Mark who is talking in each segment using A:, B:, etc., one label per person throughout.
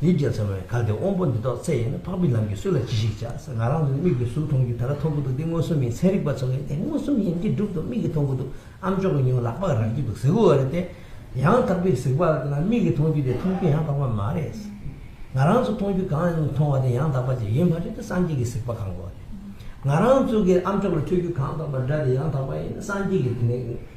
A: ཡིད་བརྒྱ་ཚང་བའི་གར་དེ་དབང་པོ་འདི་རྟོགས་ཚད་ཡིན་ན་འཕགས་པའི་ལམ་གྱིས་སུ་ལ་ཅི་ཞིག་བྱ་ཟེར་ང་རང་ཚོའི་མིག་གིས་གཟུགས་མཐོང་རྒྱུ་ད་ལྟ་མཐོང་གི་འདུག་འདི་མངོན་སུམ་ཡིན་ཚན་རིག་པ་ཚོ་གིས་འདི་མངོན་སུམ་ཡིན་གྱི་འགྲུབ་འདུག་མིག་གིས་མཐོང་གི་འདུག་ཨ་མཆོག་གི་མྱིང་ལག་པགས་རག་གི་འདུག་ཟེར་གི་འོ་རེད་དེ། ཡང་དག་པའི་གཟིགས་པ་ལ་མིག་གིས་མཐོང་རྒྱུ་དེ་མཐོང་རྒྱུ་ཡང་དག་པ་མ་རེད། ང་རང་ཚོ་མཐོང་རྒྱུ་གང་མཐོང་བ་དེ་ཡང་དག་པ་ཅིག་ཡིན་མ་རེད་དེ་སངས་རྒྱས་ཀྱི་གཟིགས་པ་གང་གོ་རེད། ང་རང་ཚོ་གིས་ཨ་མཆོག་ལ་འཕྲོད་རྒྱུ་གང་དག་པ་འདྲ་དེ་ཡང་དག་པ་ཡིན་ན་སངས་རྒྱས་ཀྱི་དེ་ནས་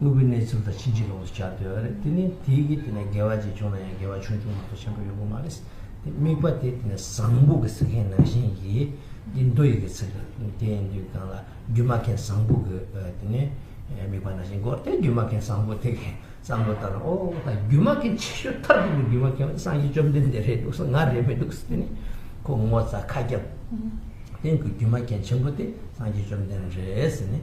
A: དངོས་པོའི་གནས་ཚུལ་དང་ཕྱིན་ཅི་ལོག་ཏུ་བྱ་འདོད་ཡོད་རེད་དེ་ནི་དེའི་གིས་དེ་ནས་དགེ་བ་གཅིག་བྱུང་ན་ཡང་དགེ་བ་ཆུང་ཆུང་མ་གཏོགས་ཆེན་པོ་ཡོང་གི་མ་རེད། དེ་དམིགས་པ་དེ་དེ་ནས་བཟང་པོ་གི་ཚིག་མཁན་ནང་བཞིན་གྱིས་འདི་མདོ་ཡི་གི་ཚིག་རེད་དེ་ཡིན་དུས་གང་ལ་རྒྱུ་མ་མཁན་བཟང་པོ་གི་དེ་ནས་དམིགས་པ་ནང་བཞིན་གོ་དེ་རྒྱུ་མ་མཁན་བཟང་པོ་དེ་གིས་བསམ་བློ་བཏང་ན་ཨོ་ད་རྒྱུ་མ་མཁན་ཆེ་ཤོས་མཐར་ཐུག་གི་རྒྱུ་མ་མཁན་བ་དེ་སངས་རྒྱས་བཅོམ་ལྡན་འདས་རེད་འདུག་ང་རེད་མི་འདུག་དེ་ནི་ཁོ་ངོ་ཚ་ཁ་རྒྱབ་སྟེང་གི་རྒྱུ་མ་མཁན་ཆེན་པོ་དེ་སངས་རྒྱས་བཅོམ་ལྡན་རེད་ཟེར་ནས།